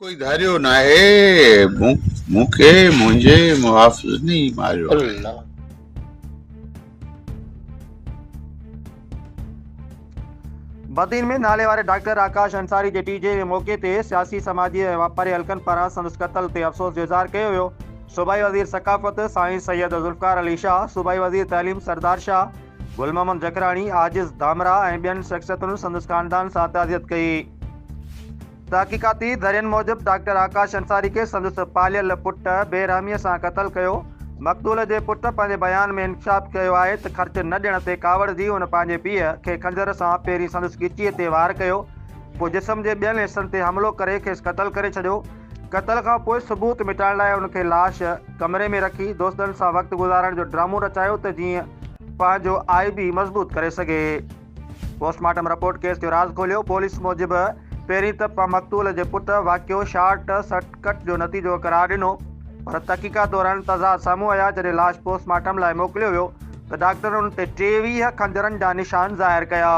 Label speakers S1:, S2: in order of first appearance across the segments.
S1: ڪوئي ڌاريو ناهي مون کي منهنجي محافظن ئي ماريو
S2: بدين ۾ ناليواري ڊاڪٽر آڪاش انصاري جي ٽي جي جي موقعي تي سياسي، سماجي ۽ واپاري حلقن پاران سندس قتل تي افسوس جو اظهار ڪيو ويو. صوبائي وزير ثقافت سائين سيد ذوالفقار علي شاهه، صوبائي وزير تعليم سردار شاهه، گل محمد جکراڻي، عاجز ڌامراهه ۽ ٻين شخصيتن سندس خاندان سان تعزيت ڪئي. تحقيقاتي ذريعن موجب ڊاڪٽر آڪاش انصاري کي سندس پاليل پٽ بي رحميء سان قتل ڪيو. مقتول جي پٽ پنهنجي بيان ۾ انڪشاف ڪيو آهي ته خرچ نه ڏيڻ تي ڪاوڙجي هن پنهنجي پيء کي خنجر سان پهرين سندس ڳچيء تي وار ڪيو پوء جسم جي ٻين حصن تي حملو ڪري کيس قتل ڪري ڇڏيو. قتل کان پوء ثبوت مٽائڻ لاء هن کي لاش ڪمري ۾ رکي دوستن سان وقت گذارڻ جو ڊرامو رچايو ته جيئن پنهنجو آلبي مضبوط ڪري سگهي. پوسٽ مارٽم رپورٽ ڪيس جو راز کوليو، پوليس موجب پهرين ته پ مقتول جي پٽ واقعو شارٽ سرڪٽ جو نتيجو قرار ڏنو پر تحقيقات دوران تضاد سامهون آيا جڏهن لاش پوسٽ مارٽم لاء موڪليو ويو ته ڊاڪٽرن ان تي ٽيويهه خنجرن جا نشان ظاهر ڪيا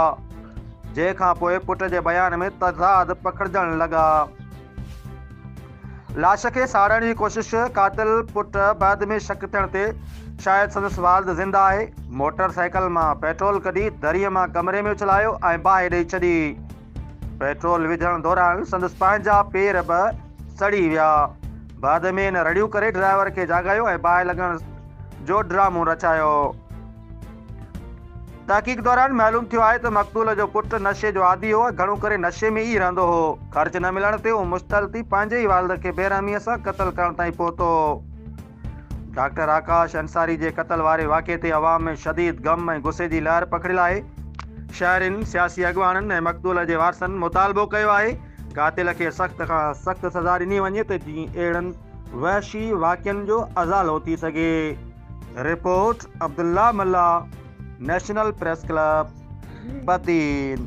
S2: جنهن کانپوء پٽ جي بيان ۾ تضاد پکڙجڻ لڳا. لاش کي ساڙڻ جي ڪوشش، قاتل پٽ بعد ۾ شڪ ٿيڻ تي شايد سندس والد زنده آهي، موٽر سائيڪل مان پيٽرول ڪڍي دريء مان ڪمري ۾ اڇلايو ۽ باهه ڏئي ڇڏي، پيٽرول وجهڻ دوران سندس پنهنجا پير به سڙي ويا، بعد ۾ هن رڙيون ڪري ڊرائيور کي جاڳايو ۽ باهه لڳڻ جو ڊرامو رچايو. تحقيق دوران معلوم ٿيو آهي ته مقتول جو پٽ نشي جو عادي هو ۽ گهڻو ڪري نشي ۾ ئي رهندو هو. خرچ نه ملڻ تي هو مشتعل ٿي پنهنجي ئي والد کي بيرحميء سان قتل ڪرڻ تائين پهتو هو. ڊاڪٽر آڪاش انصاري جي قتل واري واقعي تي عوام ۾ شديد غم ۽ غصي جي لهر پکڙيل آهي. شهرين، سياسي اڳواڻن ۽ مقتول جي وارثن مطالبو ڪيو آهي قاتل کي سخت کان سخت سزا ڏني وڃي ته جيئن اهڙن وحشي واقعن جو ازالو ٿي سگهي. Report Abdullah Mallah national press club Badin